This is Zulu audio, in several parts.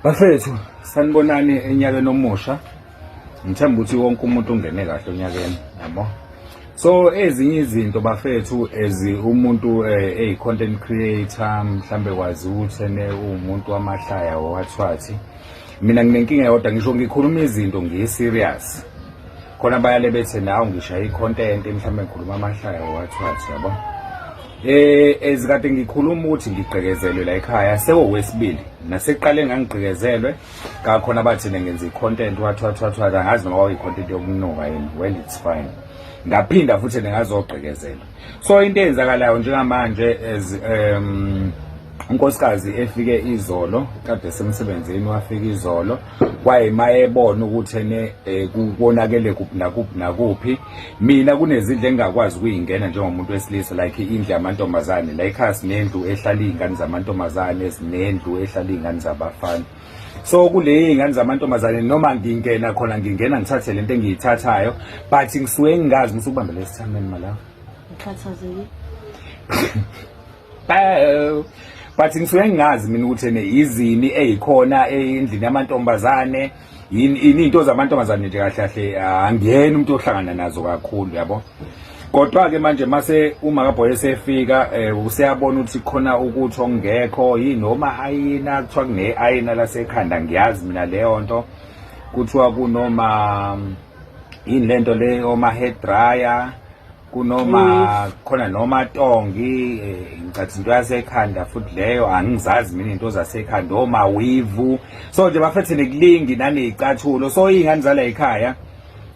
bafethu sanibonani enyakeni omusha ngithemba ukuthi wonke umuntu ungene kahle onyakeni yabo so ezinye izinto bafethu as umuntu eh, eyi content creator mhlambe kwazi ukuthi ene umuntu wamahlaya wathwathi mina nginenkinga yodwa ngisho ngikhuluma izinto ngiyi serious khona bayale bethe nawo ngishaya i-content mhlawumbe ngikhuluma amahlaya wathwathi yabo eh ezikade ngikhuluma ukuthi ngigqekezelwe la ekhaya sewowesibili naseqale ngangigqekezelwe kakhona bathina ngenza i-content wathwathwathwa angazi noma kwakuyi-content yokunuka yini well it's fine ngaphinda futhi ningazogqekezelwa so into eyenzakalayo njengamanje as um unkosikazi efike izolo kade semsebenzini wafika izolo kwaye mayebona ukuthi ene eh, kubonakele kuphi nakuphi nakuphi mina kunezindle engingakwazi ukuyingena njengomuntu wesilisa like indle yamantombazane la ikhasi nendlu ehlala iy'ngane zamantombazane ezinendlu ehlala iy'ngane zabafana so kule ingane zamantombazane noma ngingena khona ngingena ngithathe lento engiyithathayo but ngisuke ngingazi ukuthi ukubambe lesithameni malawo ukhathazekile but ngisuke ngingazi mina ukuthi ne izini ezikhona endlini yamantombazane yini into zamantombazane nje kahle kahle angiyena umuntu ohlangana nazo kakhulu yabo kodwa ke manje mase uma kaBoy esefika eh, useyabona ukuthi khona ukuthi ongekho yini noma ayina kuthiwa kune ayina lasekhanda ngiyazi mina leyo nto kuthiwa kunoma yini lento le oma hair dryer kunoma mm. khona noma tongi eh, ngicathi into yasekhanda futhi leyo angizazi mina into zasekhanda oma weave so nje bafethe nekulingi nanezicathulo so ingane zala ekhaya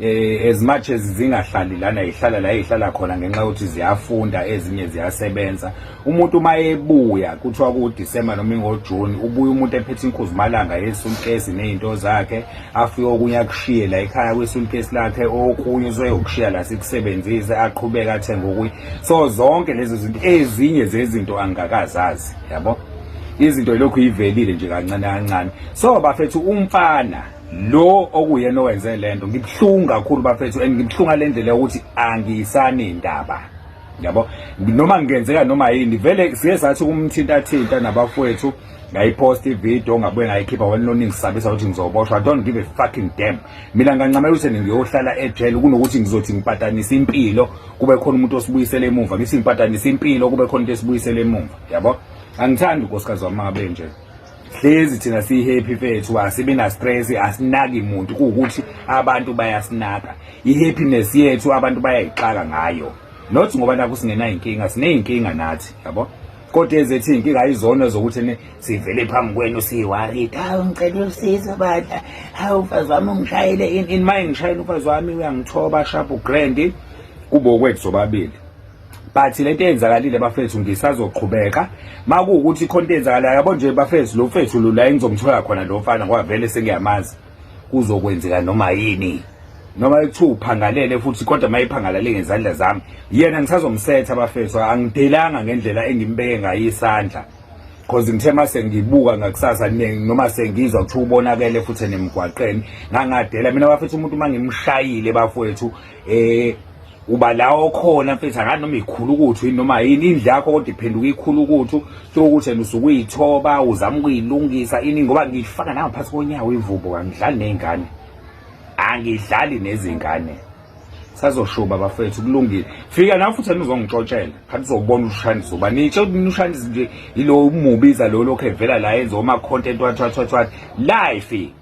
eh as much as zingahlali lana ihlala la ihlala khona ngenxa ukuthi ziyafunda ezinye ziyasebenza umuntu uma ebuya kuthiwa ku December noma ngo June ubuya umuntu ephethe inkuzi malanga yesunkesi nezinto zakhe afike okunye akushiye la ekhaya kwesunkesi lakhe okunye uzoyokushiya la sikusebenzise aqhubeka athenga okunye so zonke lezi zinto ezinye zezinto angakazazi yabo izinto lokhu ivelile nje kancane kancane so bafethu umfana lo okuyena owenze lento ngibuhlungu kakhulu bafethu and ngibuhlunga lendlela ukuthi angisani indaba yabo noma ngenzeka noma yini vele siye sathi umthinta thinta nabafowethu ngayipost ivideo ngabuye ngayikhipha wena noningisabisa ukuthi ngizoboshwa i don't give a fucking damn mina ngancamela ukuthi ngiyohlala ejele kunokuthi ngizothi ngipatanisa impilo kube khona umuntu osibuyisela emuva ngithi ngipatanisa impilo kube khona into esibuyisela emuva yabo angithandi unkosikazi wami abe nje hlezi thina siyihappy mfethu asibe na stress asinaki muntu kuwukuthi abantu bayasinaka ihappiness yethu abantu bayayixaka ngayo not ngoba naku singena inkinga sineyinkinga nathi yabo kodwa ezethi inkinga ayizona zokuthi sivele phambi kwenu siyiwarit hawu ngicela usizo badla hawu mfazi wami ungishayele in, in my ngishayele umfazi wami uyangithoba sharp grand kubo kwethu sobabili but lento eyenzakalile bafethu ngisazoqhubeka makuwukuthi khona into eyenzakalayo yabo nje bafethu lo mfethu lo la engizomthola khona lo mfana ngoba vele sengiyamazi kuzokwenzeka noma yini noma ekuthiwa uphangalele futhi kodwa uma ephangalale ngezandla zami yena ngisazomsetha abafethu angidelanga ngendlela engimbeke ngayo isandla cause ngithe uma sengibuka ngakusasa noma sengizwa kuthiwa ubonakele futhi enemgwaqeni ngangadela mina bafethu umuntu uma ngimshayile bafowethu um uba la okhona mfethu akani noma ikhulu ukuthu yini noma yini indlu yakho kodwa iphenduka ikhulu ukuthu sokuthi and usuke uyithoba uzama ukuyilungisa ini ngoba ngiyifaka nangaphansi konyawo imvubo kangidlali ney'ngane angidlali nezingane sazoshuba bafethu kulungile fika nawe futhi yena uzongixotshela khathi uzobona ushandisa uba nitsho ushandisa nje yilo umubiza lo lokhu evela la yenza oma-content wathi wathi wathi wathi life